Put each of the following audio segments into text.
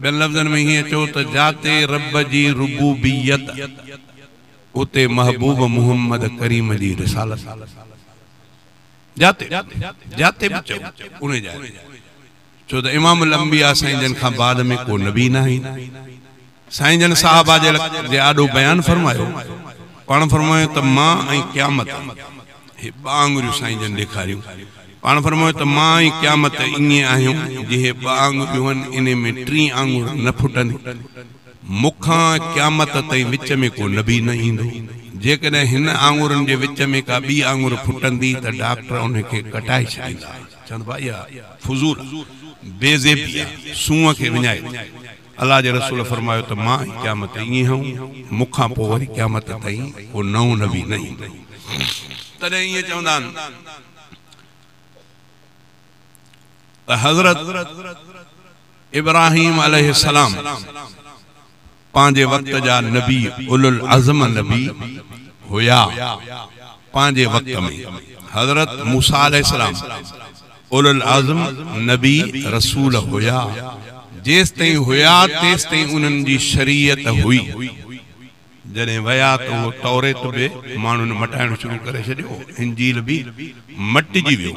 ٻين لفظن ۾ هيئن چئو ته جاتي رب جي ربوبيت اتي محبوب محمد ڪريم جي رسالت. جاتي جاتي به چئو ان جاء تي ڇو ته امام الانبياء سائين جن کان بعد ۾ ڪو نبي ناهي. سائين جن صاحب آجيل جي آڏو بيان فرمايو، پاڻ فرمايو ته مان ۽ قيامت، هي ٻه آڱريون سائين جن ڏيکاريون، پاڻ فرمايو ته مان ۽ قيامت ائين آهيون جي هي ٻه آڱريون هن انهي ۾ ٽين آڱر نه ڦٽنديون، مون کان قيامت تائين وچ ۾ ڪو نبي نه ايندو، جيڪڏهن هن آڱرن جي وچ ۾ ڪا ٻي آڱر ڦٽندي ته ڊاڪٽر انهي کي ڪٽائي ڇڏيندا، چوندا اها فضول آ، بي زيبي آ، سونهن کي وڃائي. الله جي رسول فرمايو ته مان ئي قيامت تائين ائين هئم، مون کان پوء وري قيامت تائين ڪو نئون نبي نه ايندو. تڏهن ائين چوندا آهن ته حضرت ابراهيم عليه السلام پنهنجي وقت جا نبي اولوالعزم نبي هيا، پنهنجي وقت ۾ حضرت موسيٰ عليه السلام اولوالعزم نبي رسول هيا، جيستائين هيا تيستائين انهن جي شريعت هئي، جڏهن ويا ته اهو توريت به ماڻهن مٽائڻ شروع ڪري ڇڏيو، انجيل به مٽجي ويو.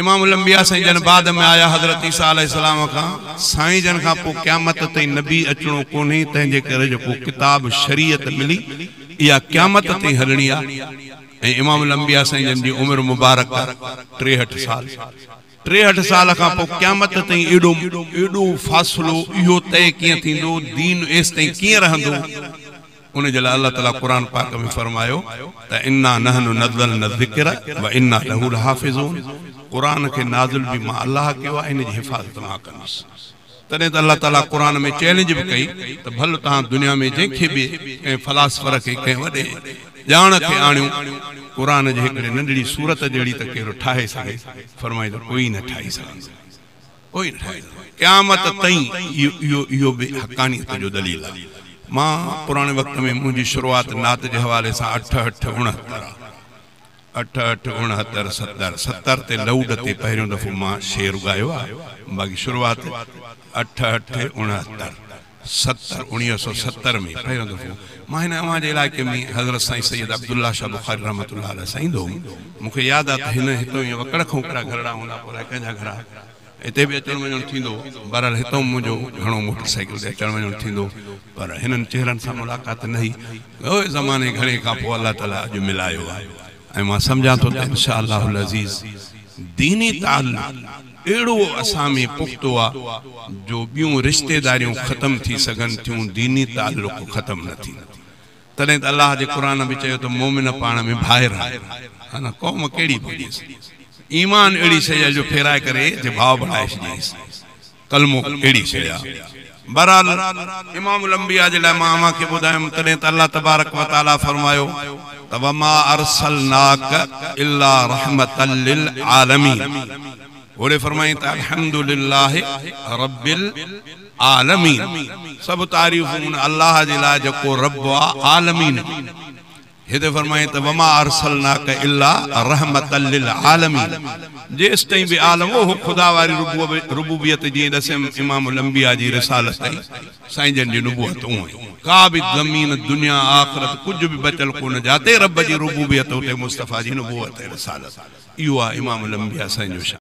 امام الانبياء سائين جن بعد ۾ آيا، حضرت عيسيٰ عليه السلام کان، سائين جن کان پوء قيامت تائين نبي اچڻو ڪونهي، تنهنجي ڪري جيڪو ڪتاب شريعت ملي اها قيامت تائين هلڻي آهي، ۽ امام الانبياء سائين جن جي عمر مبارڪ ٽيهٺ سال ٽيهٺ سال کان پوء قيامت تائين ايڏو ايڏو فاصلو اهو طئي ڪيئن ٿيندو دين ايستائين ڪيئن رهندو ان جي لاء الله تعالي قرآن پاڪ ۾ فرمايو ته انا نحن نزلنا الذڪر وانا له لحافظون قرآن کي نازل به مان الله ڪيو آهي ان جي حفاظت مان ڪندس. تڏهن ته الله تعاليٰ قرآن ۾ چئلينج به ڪئي ته ڀل توهان دنيا ۾ جنهن کي به ڪنهن فلاسفر کي ڪنهن وڏي ڄاڻ کي آڻيو قرآن جي هڪڙي ننڍڙي سورت جهڙي ته ڪهڙو ٺاهي سگهي فرمائيندو ڪوئي نه ٺاهي سگهندو ڪوئي نه ٺاهي سگهندو قيامت تئين اهو اهو به حقانيت جو دليل آهي مان پراڻي وقت ۾ منهنجي شروعات نعت جي حوالي سان اٺهٺ اڻهتر آهي. اٺ اٺ اڻهتر ستر ستر تي لئوڊ تي پهريون دفعو مان شعر ڳايو آهي باقي شروعات اٺ اٺ اڻهتر ستر اوڻيهه سئو ستر ۾ پهريون دفعو مان هن اوهان جي علائقي ۾ حضرت سائين سيد عبدالله شاهه بخاري رحمة الله عليه سان ايندو هوم مون کي ياد آهي ته هن هتو ايئن وڪڙ کان وڪڙا گهرڙا هوندا پوء الاء ڪنهن جا گهرا هتي به اچڻ وڃڻ ٿيندو. بهرحال هتئون منهنجو گهڻو موٽر سائيڪل تي اچڻ وڃڻ ٿيندو پر هنن چهرن سان ملاقات نه هئي. اهي زماني گهڻي کان پوء الله تعاليٰ اڄ ملايو آهي ۽ مان سمجهان ٿو ته ان شاء الله العزيز ديني تعلق اهڙو اسان ۾ پختو آهي جو ٻيون رشتيداريون ختم ٿي سگهن ٿيون ديني تعلق ختم نه ٿيندو. تڏهن ته الله جي قرآن به چيو ته مؤمن پاڻ ۾ ڀائر آهن. قوم ڪهڙي به هجيس. ايمان اهڙي شيء آهي جو ڦيرائي ڪري جي ڀاء بڻائي ڇڏينس. ڪلمو اهڙي شيء آهي. بهرحال امام الانبياء جي لاء مان اوهان کي ٻڌايم تڏهن ته الله تبارڪ و تعاليٰ فرمايو ته وما ارسلناک الا رحمتا للعالمين. پوڙهي فرمائين ته الحمدلله رب. عالمين، سڀ تعريفون ان الله جي لاء جيڪو رب آ عالمين جي. هتي فرمائين ته وما ارسلناک الا رحمة للعالمين جيستائين به عالم هو اهو خدا واري ربوبيت جيئن ڏسيم امام الانبياء جي رسالت ۽ سائين جن جي نبوت اونئن ئي ڪا به زمين دنيا آخرت ڪجهه به بچل ڪونه جاتي رب جي ربوبيت اتي مصطفيٰ جي نبوت ۽ رسالت اهو آ امام الانبياء سائين جو شان.